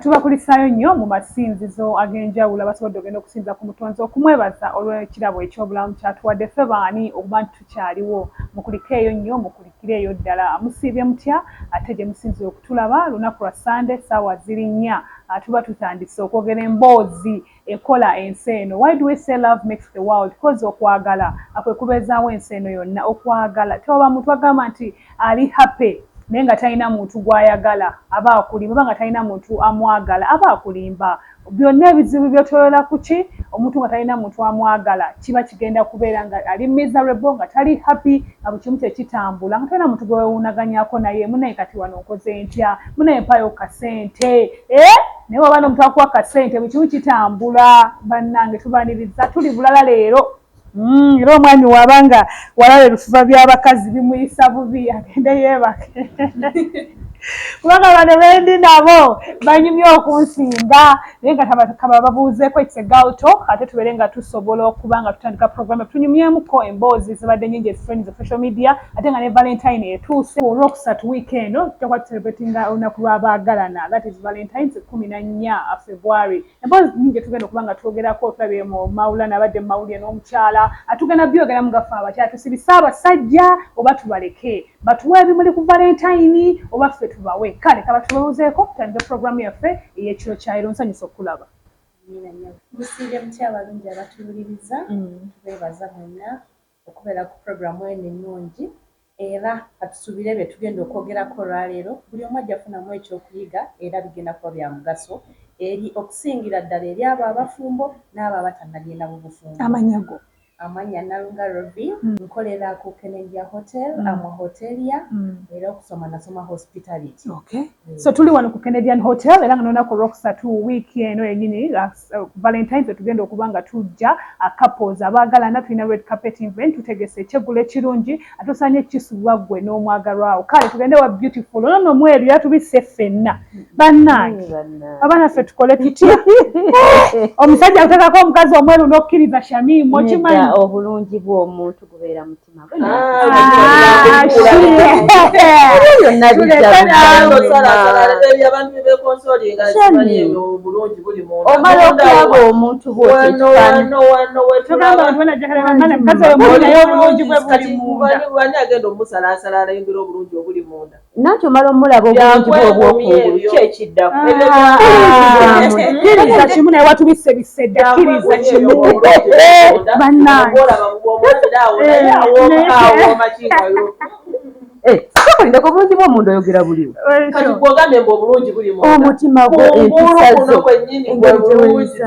tubakulisaayo nnyo mu masinzizo ag'enjawulo abasobodde ogenda okusinza ku mutonzi okumwebaza olw'ekirabo eky'obulamu kyatuwadde ffe baani okuba nti tukyaliwo mukulikeeyo nnyo mukuli Kiri eyo ddala. Musiibye mutya? Ate gye musinzira okutulaba, lunaku lwa Ssande, ssaawa ziri nnya, tuba tutandise okwogera emboozi ekola ensi eno. Why do we say love makes the world? Coz okwagala kwe kubeezaawo ensi eno yonna. Okwagala. Tewaba muntu agamba nti ali happy naye nga talina muntu gw'ayagala, aba akulimba, oba nga talina muntu amwagala, aba akulimba. Byonna ebizibu byotolola kuki? Omuntu nga talina muntu amwagala kiba kigenda kubeera nga ali miserable nga tali happy nga buli kimu tekitambula nga tolina muntu gwewewuunaganyako naye munaye kati wano nkoze ntya munaye mpaayo ku kasente eeh naye waba nomuntu akuwa kasente buli kimu kitambula banange tubaniriza tuli bulala leero. Mm, era omwami waba nga walaba ebifuba by'abakazi bimuyisa bubi agende yeebake kubanga bano bendi nabo banyumye okunsinga naye nga kaba babuuzeeko ekisegalto ate tubeere nga tusobola okuba nga tutandika programme tunyumyemuko emboozi zibadde nyingi ezifreni ze social media ate nga ne valentine etuuse olwokusatu wiiki eno tutakuba tucelebratinga olunaku lw'abaagalana that is valentines kumi na nnya february Emboozi nnyingi gyetugenda okuba nga twogerako tulabye mu Maulana abadde mu mawulire n'omukyala atugenda byogeramu nga ffe abakyala tusibise abasajja oba tubaleke batuwe ebimuli ku valentayini oba ffe tubawe kale kabatulowozeeko tutandike pulogulaamu yaffe ey'ekiro kya leero nsanyuse okukulaba. Amiina nyabo. Musiibe mutya abalungi abatululiriza mm. tubeebaza mwenna. okubeera ku pulogulaamu eno ennungi era katusuubire bye tugenda okwogerako olwaleero buli omu ajja kufunamu eky'okuyiga era bigenda kuba bya mugaso eri okusingira ddala eri abo abafumbo n'abo abatannagenda mu bufumbo. Amannya go? Amannya Nnalunga Rovie, nkolera ku Kenendia Hotel, am a hotelier era okusoma nasoma hospitality. Okay, so tuli wano ku Kenedian Hotel era nga n'olunaku olwokusatu wiiki eno yennyini nga. uh, valentines wetugenda okuba nga tujja couples abaagalana tulina red carpet event tutegese ekyeggulo ekirungi ate osaanye kisubwa ggwe n'omwagalwawo kale tugende wa beautiful ono nomu ebyo yatubisse ffenna bannange abaana ffe tukole tutya omusajja akutekako omukazi omweru n'okkiriza shamimu okimanyi obulungi bw'omuntu gubeera mu omala okulaba omuntu bwokifaananyi agenda omusalaasala alayingira obulungi obuli munda nanti omala omulaba obulungi bwobwokungulu ki ekiddakokiriza ah. kimu naye watubise bisedda kiriza kimu bannangeokolindeko eh, obulungi bwomuntu oyogera buliwo omutima gwo empisa zo engeri gyeweyisa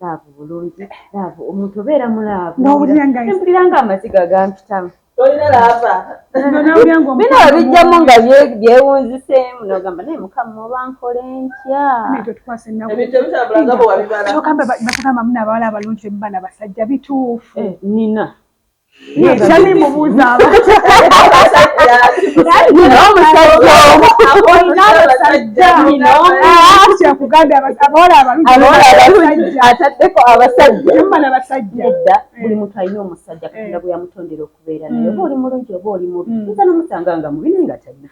laavu bulungi laavu omuntu obeera mu laavu mpulira nga amaziga gampitamu bino babijjamu nga byewunziseemu nogamba naye mukama oba nkole ntyatugamba muna abawala abalungi bemubana basajja bituufu eh, nina ataddeko abasajjabasajjadda buli muntu alina omusajja katonda gwe yamutondera okubeera naye oba oli mulungi oba oli mubi isa nomusanga nga mubi naye nga talina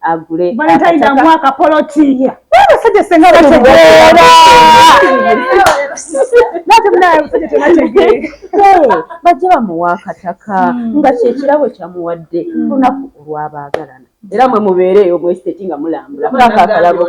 agule valentine amu akapolotiya abasajja senga bategeera bajja bamuwa akataka hmm. nga kyekirabo kyamuwadde hmm. lunaku olwabaagalana era mwe mubeereeyo mwesiteti nga mulambula mulaka akalabo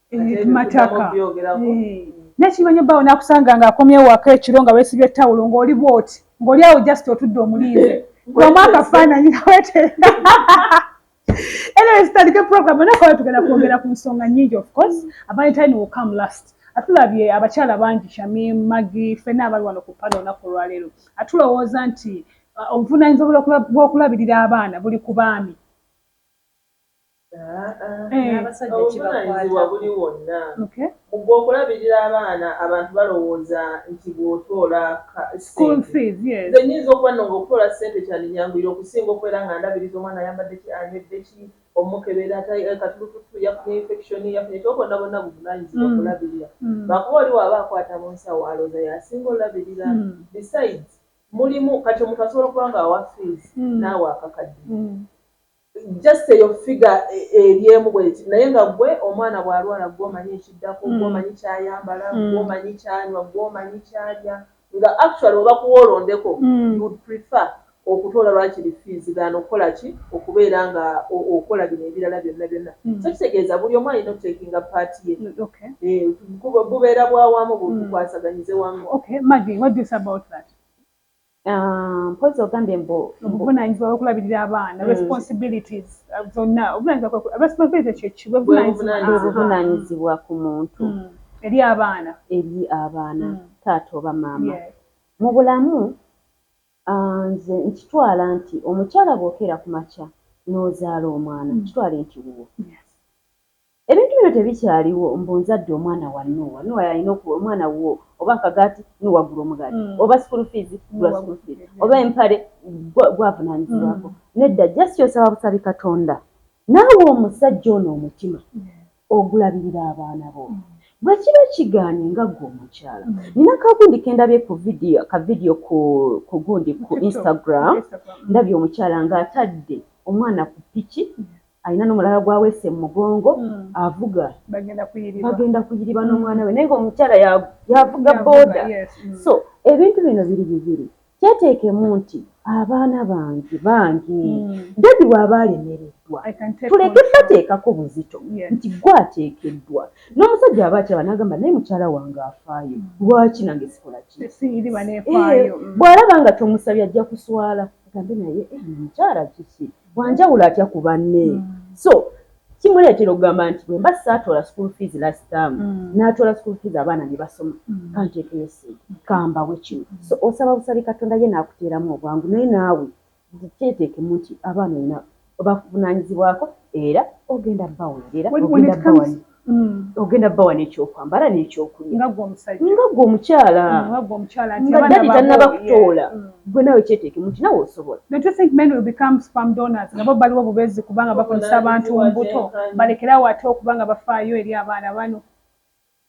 mataka nekimanya bawo nakusanga nga akomye waka ekiro nga wesibye tawulo ngoli bwoti ngoli awo just otudde omulinze kubamu akafaananyi naweteeka anyways tutandike program nakola tugenda kwogera ku nsonga nyingi of course valentine will come last atulabye abakyala bangi shami magi fena abali wano ku pano olunaku olwaleero atulowooza nti uh, obuvunanyizibwa bwokulabirira abaana buli ku baami Obuvunaanyizibwa buli wonna. Mu gwe okulabirira abaana abantu balowooza nti bw'otoola ssente. Nze nnyinza okuba nno ng'okutoola ssente kyandinyanguyira okusinga okubeera nga ndabiriza omwana ayambadde ki, anywedde ki, omukebera katulututtu, yafunye yinfekishoni, yafunye ki. Obwo bwonna bwonna buvunaanyizibwa kulabirira. Lwakuba oli bw'aba akwata mu nsawo alowooza y'asinga olabirira. Besides mulimu kati omuntu asobola okuba ng'awa fiizi n'awa akakadde. Just eyo figure eri emu bweti naye nga gwe omwana bwalwala gwe omanyi ekiddako, gwe omanyi kyayambala, gwe omanyi kyanywa, gwe omanyi kyalya nga actually webakuwa olondeko you would prefer okutoola lwakiri fees than okukolaki okubeera nga okola bino ebirala byonna byonna so kitegeeza buli omu alina otakinga part ye eeh bubeera bwawamu bwetwukwasaganyize wamu. Okay Maggie what do you say about that? Ah, mpozi ogambye mbu obuvunanyizibwa bwokulabirira abaana hmm. responsibilities ah, zonna obuvunanyizibwa ku muntu hmm. eri abaana eri abaana hmm. taata oba maama mu bulamu ah, nze nkitwala nti omukyala bwokeera ku makya n'ozaala omwana kitwale nti wuwo Ebintu bino tebikyaliwo mbu nzadde omwana wa Nuwa, Nuwa yalina okuwa omwana wuwo oba akagaati, Nuwa gula omugaati, oba school fees, gula school fees, oba empale, gwa gwavunanyizibwako. Nedda just osaba busabi Katonda. Naawe omusajja ono omutima ogulabirira abaana bo? Bwekiba kigaanye nga gwe omukyala, nina kagundi kendabye ku video, ka video ku ku gundi ku Instagram, ndabye omukyala nga atadde omwana ku piki, alina nomulala gwawese mumugongo mm. avuga bagenda kuyiriba mm. nomwana we naye nga omukyala yavuga boda mm. so ebintu bino biri bibiri kyeteekemu nti abaana bangi bangi dadi waaba alemereddwa tuleke bateekako buzito nti gwe ateekeddwa n'omusajja aba akyaba nagamba naye mukyala wange afaayo lwaki nange sikola ki eh, bw'alaba nga tomusabye ajja kuswala agambe naye eh, mukyala kiki Wanjawulo atya ku banne. So, kimuleetera okugamba nti bwe mba saatoola school fees last term, natoola school fees abaana ne basoma, kanteekeyo ssente, kambawe kino. So, osaba busabi Katonda ye n'akuteeramu obwangu naye naawe kyeteekemu nti abaana olina, obavunaanyizibwako era ogenda baweerera, ogenda bawa. Mm. ogenda bawa nekyokwambala nekyokulya nga gwe omukyala mm, nga dadi tanaba kutoola mm. gwe nawe kyetekemu nti nawe osobola nabo baliwo bubezi kubanga bakozesa abantu mbuto balekerawo ate okubanga bafaayo eri abaana bano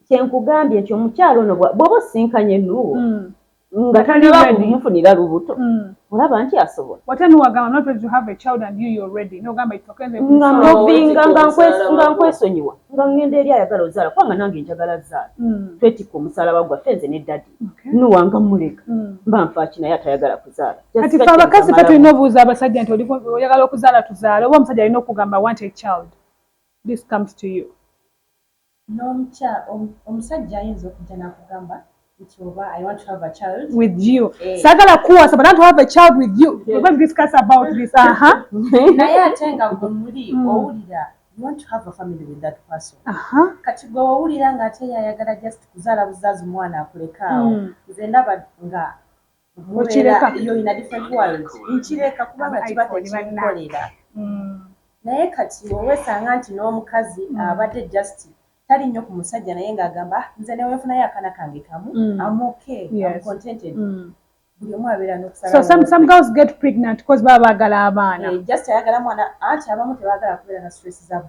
kyenkugambye ekyo omukyala ono bwoba osinkanye nuwo mm. nga talimufunira lubuto mm. olaba nti asobola nga nkwesonyiwa nga ngenda eri ayagala ozaala kubanga nange njagala zaala mm. twetikka omusalaba gwaffe nze ne dadi nuwanga muleka mm. mba nfaaki naye atayagala kuzaala kati fe abakazi fe tulina obuuza abasajja nti oyagala okuzaala tuzaala oba omusajja alina okugamba want a child this comes to you Nomukya omusajja ayinza okujja nakugamba nti oba I want to have a child with you eh. sagala kuwasa but I want to have a child with you yes. We're discuss about this uh -huh. naye ate nga gwe muli mm. owulira you want to have a family with that person uh -huh. kati gwe owulira nga ate yayagala just kuzaala buzaazi omwana akulekaawo mm. nze ndaba nga Mukireka. Yo in a different world. Nkireka kubanga kiba tekinkolera. Mm. Naye kati wewesanga nti n'omukazi mm. abadde just tali nnyo ku musajja naye ng'agamba ah, nze newenfunayo akaana kange kamu mm. am okay yes. am contented mm. buli omu abeera n'okusala so some, some girls get pregnant because baba baagala abaana hey, eh, just ayagala mwana anti abamu tebaagala kubeera na stress zabu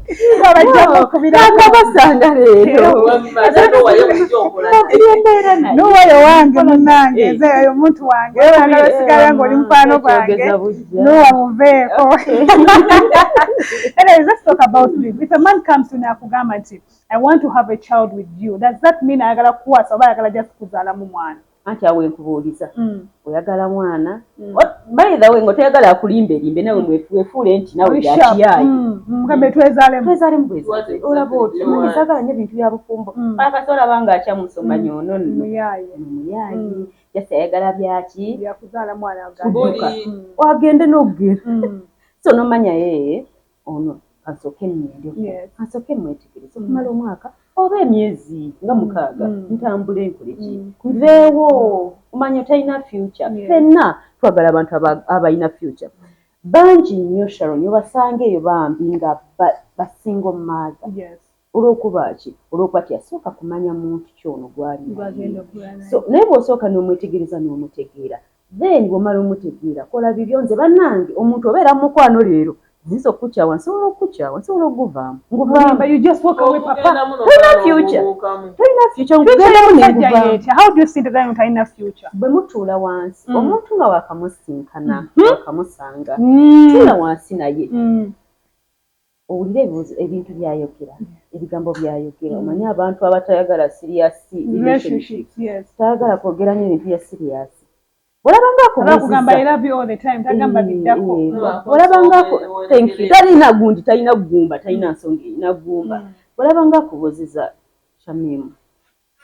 babajjamukubirakabasanga leeronowayo wange munange eh. ezeyo omuntu wange bana basigala nga oli mukwano gwange nowa muveeko anyways let's talk about this if a man comes to nakugamba nti i want to have a child with you does that mean ayagala kukwasa oba ayagala just kuzaalamu mwana anti awo enkubuuliza mm. oyagala mwana mm. by the way nga toyagala akulimbe limbe nawe mm. wefuule nti nawe yakiyaye mugambe twezalemu twezalemu bwezale olaba oti mwana sagala nyo bintu bya bufumbo akati olaba nga akya musoma nyo no no muyaye muyaye just ayagala byaki yakuzala mwana agabuli wagende nogera so nomanya yeye Ono kansoke nnende ko Yes. kansoke mwetegereze okumala omwaka oba emyezi nga mukaaga Mm. ntambule nkole ki Mm. nveewo omanya talina future Yes. fenna twagala abantu aba- abalina future bangi nnyo sharon obasangeeyo bambi nga ba- basingle mother Yes. Olw'okuba ki? Olw'okuba teyasooka kumanya muntu ki ono gw'ali naye. So, naye bw'osooka n'omwetegereza n'omutegeera, then bw'omala omutegeera, kola bibyo. Nze bannange, omuntu obeera mu mukwano leero, ayinza okukukyawa, nsobola okukukyawa, nsobola okuguvaamu, nguvaamu. You just walk away papa. Okugenda muno Tolina omwana future. omubuukamu. Tolina future, Future ngugenda muno y'omusajja nguvaamu. y'etya? How do you see the guy who talina future? Bwe mutuula wansi, Mm. omuntu nga waakamusisinkana, Mhm. waakamusanga, Mm. tuula wansi naye. Mm. Owulira ebibuzo ebintu byayogera ebigambo byayogera omanyi abantu abatayagala serious relationship tayagala kwogera nyo ebintu bya serious bwolabanga akubuzizatalina gundi talina gumba talina nsonga erina gumba bwolabanga akubuziza shamimu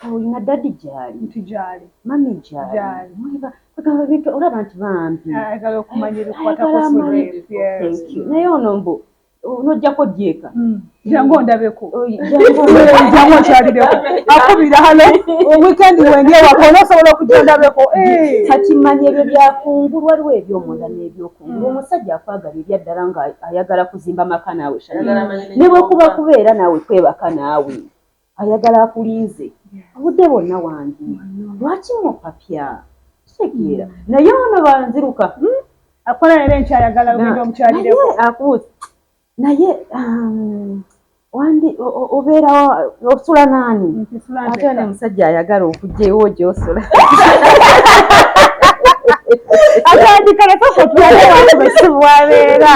olina dadi gyali nti gyali mami gyali mwiba kwegamba bintu olaba nti bambi ayagala okumanya ebikwatakosnaye ono mbu nojjako dyeka hmm. jangu ondabeko oh, jangu okyalireko akubira hano weekend wendi ewaka onosobola okujja ondabeko eh. kati manya ebyo byakungulu waliwo ebyomunda nebyokungulu hmm. omusajja akwagala ebyaddala nga ayagala kuzimba maka naawe ne bwekuba kubeera naawe kwebaka naawe Ayagala akulinze obudde bwonna wangi lwaki mupapya kitegeera naye ono banziruka hmm? akola leero enkyayagala ogenda omukyalireko akuuza naye um, wandi obeera osula naani ate ne musajja ayagala okugyewo gyosula atandika nakokotuaewaewabeera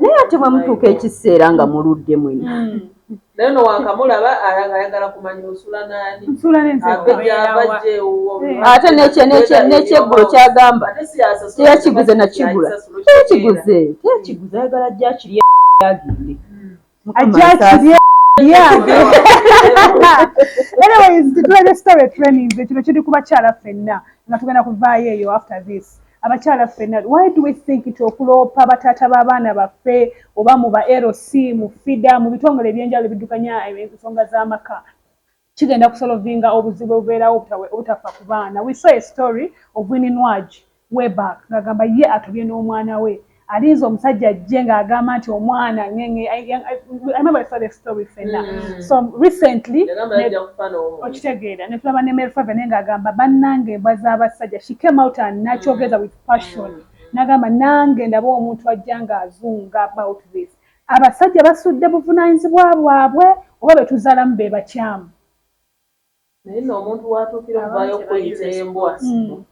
naye ate bwemutuuka ekiseera nga muludde mwena hmm. naye no wankamulaba ayagala kumanya osula nani ate nekyeggulo kyagamba teyakiguze nakigula teyakiguze teyakiguze ayagala jakirya agende ajakirye anyways titulabye story training kino kiri ku bakyala ffenna nga tugenda kuvaayo eyo after this abakyala ffenna why do we think nti okuloopa bataata b'abaana baffe oba mu ba lc mu fida mu bitongole ebyenjawulo ebiddukanya ensonga z'amaka Kigenda kusolovinga obuzibu obubeerawo obutafa ku baana. We saw a story of Winnie Nwagi way back ng'agamba ye atobye n'omwana we alinze omusajja ajje ng'agamba nti omwana ngenge I remember I saw the story fenna mm. so recently okitegeera ne tulaba ne Mary Favene ng'agamba bannange embwa z'abasajja she came out and nakyogeza mm. with passion mm. n'agamba nange ndaba omuntu ajja ng'azunga about this Abasajja basudde buvunanyizibwa bwabwe oba betuzalamu bebakyamu. Naye no omuntu watuukira okuvayo okuyita embwa hmm.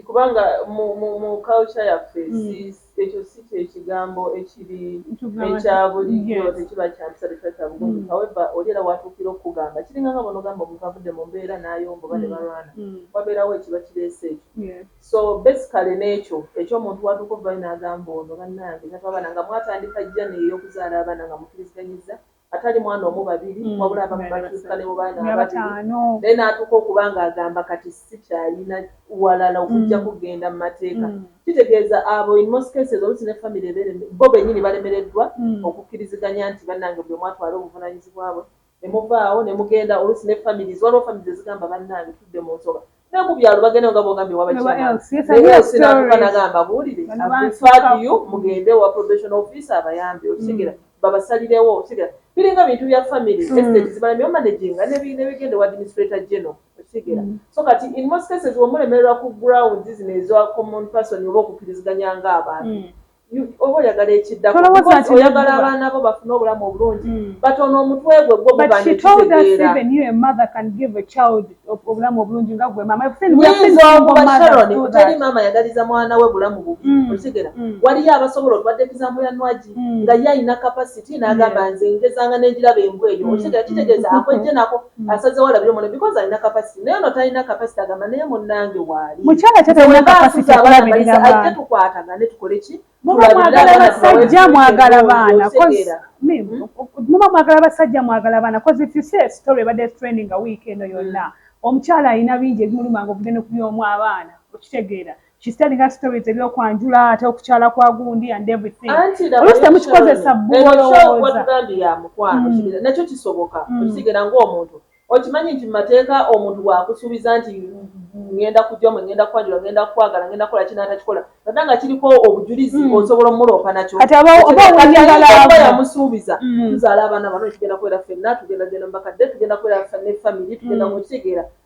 kubanga mu culture yaffe hmm. ekyo si kyekigambo ekiri ekyabulijjo tekiba kyampisa tekiba kyabugunju hmm. haweva oli era watuukira okukugamba kiringa nga bonogamba omuntu avudde mu mbeera nayomba oba nebalwana wabeerawo ekiba kireese ekyo So basically nekyo ekyomuntu watuuka okuvayo nagamba ono banange tava baana nga mwatandika journey eyokuzaala abaana nga mukiriziganyizza atali mwana omu babiri mm, wabula abamu batuuka ne mubaana ababiri naye natuuka okuba nga agamba kati sikyalina walala okujja mm. kugenda mu mateeka mm. kitegeeza abo in most cases olusi ne family bo benyini balemereddwa okukkiriziganya nti banange buli omwatwala obuvunanyizibwa bwe ne muvaawo ne mugenda oluusi ne families waliwo families ezigamba bannange tudde mu nsoga ne ku byalo bagendayo nga bw'ogambye ewa bachairman ne else n'atuuka n'agamba buwulire I've referred you mugende ewa probation officer abayambe okitegeera mm. babasalirewo okitegeera biringa bintu bya family mm. estate zibala ne omanaginga ne bigenda ewa administrator general okitegeera mm. so kati in most cases wemulemererwa ku grounds zino eza common person oba okukkiriziganya ng'abantu oba oyagala ekiddako oyagala abaana bo bafune obulamu obulungi hmm. but ono omutwe gwe gwo obulamu obulungi nga gwe mamateri maama yagaliza mwana we bulamu bubi hmm. okitegera hmm. waliyo abasobola otwadde ekizamu ya nwagi nga ye alina kapasiti n'agamba nze ngezanga n'egiraba embwa eyo okitegera kitegeeza akwejje nako Mm. asazewo alabire omwana because alina capacity naye ono talina capacity agamba naye munange waali mukyala tatalina capacity alabirira baana ajja tukwatagane tukole ki muba mwagala basajja mwagala baana hmm? muba mwagala basajja mwagala baana cause if you say story ebadde training a week eno yonna hmm. omukyala alina bingi ebimuluma nga okugenda okubyoomu abaana okitegeera she's telling us stories ebyokwanjula ate okukyala kwa gundi and everything olusi temukikozesa bwolowoozaandi ya mukwano mm. nakyo kisoboka mm. okisigera ngaomuntu okimanyi nti mumateeka omuntu wakusuubiza nti ngenda kujamu ngenda kwanjula ngenda kukwagala ngenda kukola kina atakikola nada nga kiriko obujulizi mm. osobola omuloopa nakyoyamusuubiza tuzaala abaana bano ekigenda kubeera fenna tugenda genda mubakadde tugenda kubeera ne famiry tugenda mukitegeera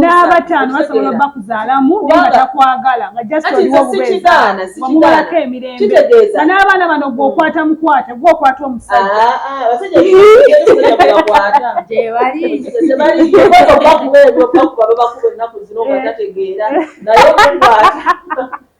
n'abataano basobola oba kuzaalamu naye nga takwagala nga just oliwo obubeeziwamubulako emirembe nga n'abaana bano gweokwata mukwata gweokwata omusajja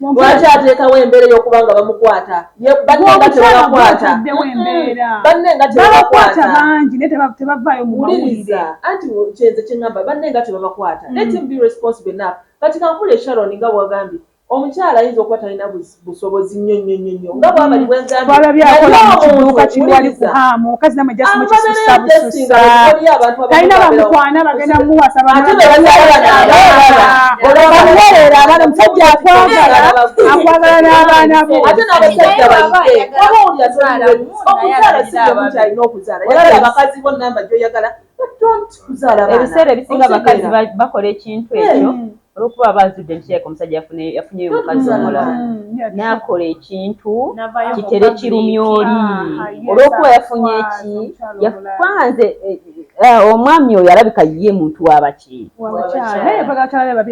Lwaki ateekawo embeera ey'okuba nga bamukwata banne nga tebabakwata banne nga tebabakwata bangi naye tebavaayo mu mawulire anti kyenze kye ŋŋamba banne nga tebabakwata mm. let him be responsible enough kati kankule sharon nga bwagambye omukyala ayinza okuba talina busobozi nnyo nnyo nnyo twalabye akola mu kiduuka kiriwali kuhaamu omukazi namwe just mukisusa bususa talina bamukwana bagenda muwasa bamuwerera abana omusajja akwagala akwagala n'abaana bo ebiseera ebisinga abakazi bakola ekintu ekyo olwokuba aba azudde nti kirabika omusajja yafunyeyo omukazi omulala n'akola ekintu kitere kirumya oli olwokuba yafunye eki yakwanze eh, eh, omwami oyo alabika ye muntu wabaki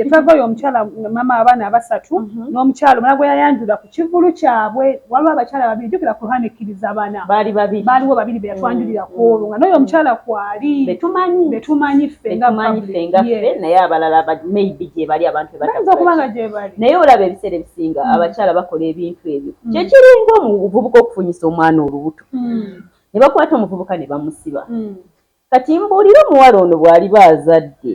twavayo omukyala mama abaana abasatu mhm. n'omukyala omulala gwe yayanjula kivulu kyabwe waliwo abakyala babiri jukira Quran ekkiriza bana baali babiri baaliwo babiri be yatwanjulira mm, kwolwo nga n'oyo mm. omukyala kwali betumanyi betumanyi ffe nga betumanyi ffe nga ffe naye abalala maybe gyebali abantu bayinza okuba nga gyebali naye olaba ebiseera ebisinga mm. abakyala bakola ebintu ebyo kyekiringa omuvubuka okufunyisa omwana olubuto ne bakwata omuvubuka ne bamusiba kati mbuulire omuwala ono bw'aliba azadde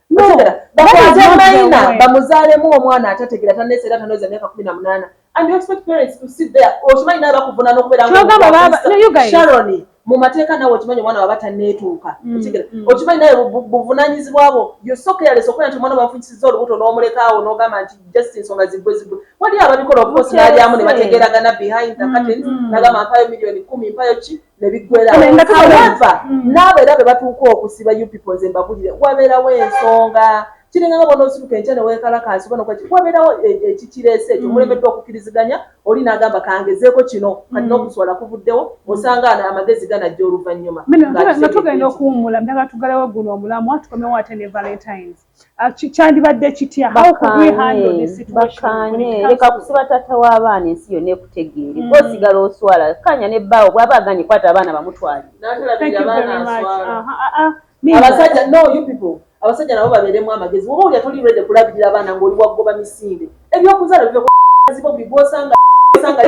bakwate mayina bamuzaalemu omwana atategera tanesa era tanoza emyaka kumi na munaana and you expect parents to sit there okimanyi naye bakuvunana okubeerasharoni mu mateeka nawe okimanyi omwana waba taneetuuka mm, okitegera mm. okimanyi naye buvunanyizibwa bwo yosokeyalesa okulaba nti omwana bafunyisiza olubuto n'omulekaawo n'ogamba nti just ensonga ziggwe ziggwe waliyo ababikola okukosi nalyamu ne bategeragana behind the mm, curtains nagamba mpayo miliyoni kumi mpayo ki nebiggwerahowever mm. naabo era be batuuka okusiba you people nze mbabulire wabeerawo ensonga kiringa nga bona osituka enkya newekalakaasi bona kwaki wabeerawo e, ekikireese ekyo mm. mulemeddwa okukiriziganya oli n'agamba kangezeeko kino kati mm. n'okuswala kuvuddewo osanga amagezi ganajja oluvannyuma nga tugenda okuwummula mdaga tugalewo guno omulamu atukomewo ate ne valentines Ah, kyandibadde kitya bakanye leka kusiba taata w'abaana ensi yonna ekutegeere mm. osigala oswala kanya ne bbaawo bwaba aganye kwata abaana bamutwaliabasajja nabo babeeremu amagezi oba olya toli rede kulabirira abaana ngaoli wagoba misinde ebyokuzala byo zibo bigosanga sanga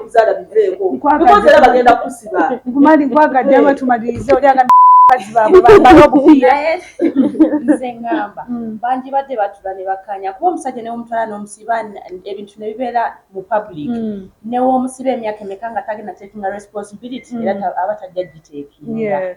kuzala biveeko because era bagenda kusiba nkumali nkwagadde aba tumalirize oli aga bakazi baabwe bambala obupiira nze ngamba mm. bangi badde batula ne bakanya kuba omusajja newomutwala n'omusiba ebintu ne bibeera mu public mm. newoomusiba emyaka emeka nga tagenda takinga responsibility mm. era aba tajja giteekinga